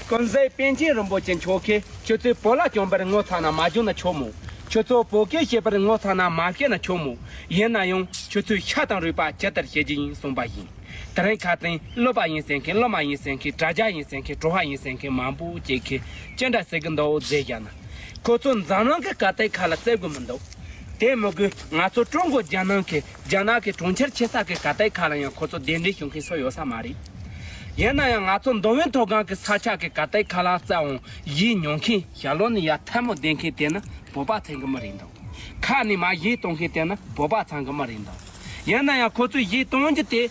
ཀུན་བཟོད་པཎ་ཆེན་རིན་པོ་ཆེ་མཆོག་གིས་ཁྱོད་ཚོས་བོད་ལྭ་གྱོན་པར་ངོ་ཚ་ན་མ་གྱོན་ན་ཆོག་མོད། ཁྱོད་ཚོ་བོད་སྐད་བཤད་པར་ངོ་ཚ་ན་མ་བཤད་ན་ཆོག་མོད། ཡིན་ན་ཡང་ཁྱོད་ཚོས་ཤ་དང་རུས་པ་ཇི་ལྟར་བཤད་རྒྱུ་ཡིན་གསུངས་པ་ཡིན། དེ་རིང་ཁ་ཏིང་གློད་པ་ཡིན་ཟེར་མཁན་གློད་མ་ཡིན་ཟེར་མཁན་དྲ་རྒྱ་ཡིན་ཟེར་མཁན་དྲོ་བྷ་ཡིན་ཟེར་མཁན་མང་པོ་སྐྱེས་མཁན་ཅི་འདྲ་ཟེར་གི་འདུག་རྫས་བཞག་ན། ཁོ་ཚོ་འཛམ་གླིང་གི་ཀ་རྟའི་ཁ་ལ་བཙལ་དགོས་མི་འདུག། དེ་མི་དགོས་ང་ཚོ་ཀྲུང་གོ་རྒྱལ་ནང་གི་རྒྱ་ནག་གི་གྲོང་ཁྱེར་ཆེ་ས་ཀའི་ག་དའི་ཁ་ལ་ཡང་ཁོ་ཚོ་གདན་འདྲེན་ཞུ་མཁན་སུ་ཡོད་ས་མ་རེད། ཡིན་ན་ཡང་ང་ཚོ་མདོ་དབུས་མཐོ་སྒང་གི་ས་ཆ་གི་ག་དའི་ཁ་ལ་རྩ་བའང་བཞེས་མྱོང་མཁན། ཞྭ་ལོ་ནི་ཡར་ཐལ་མོ་འདེད་མཁན་དེ་ནི་བོད་པ་ཚང་གི་མི་རེད་འདུག་ཁ་ནི་མ་བཞེས་གཏོང་མཁན་དེ་ནི་བོད་པ་ཚང་གི་མི་རེད་འདུག་ཡིན་ན་ཡང་ཁོ་ཚོས་བཞེས་གཏོང་རྒྱུ་དེ།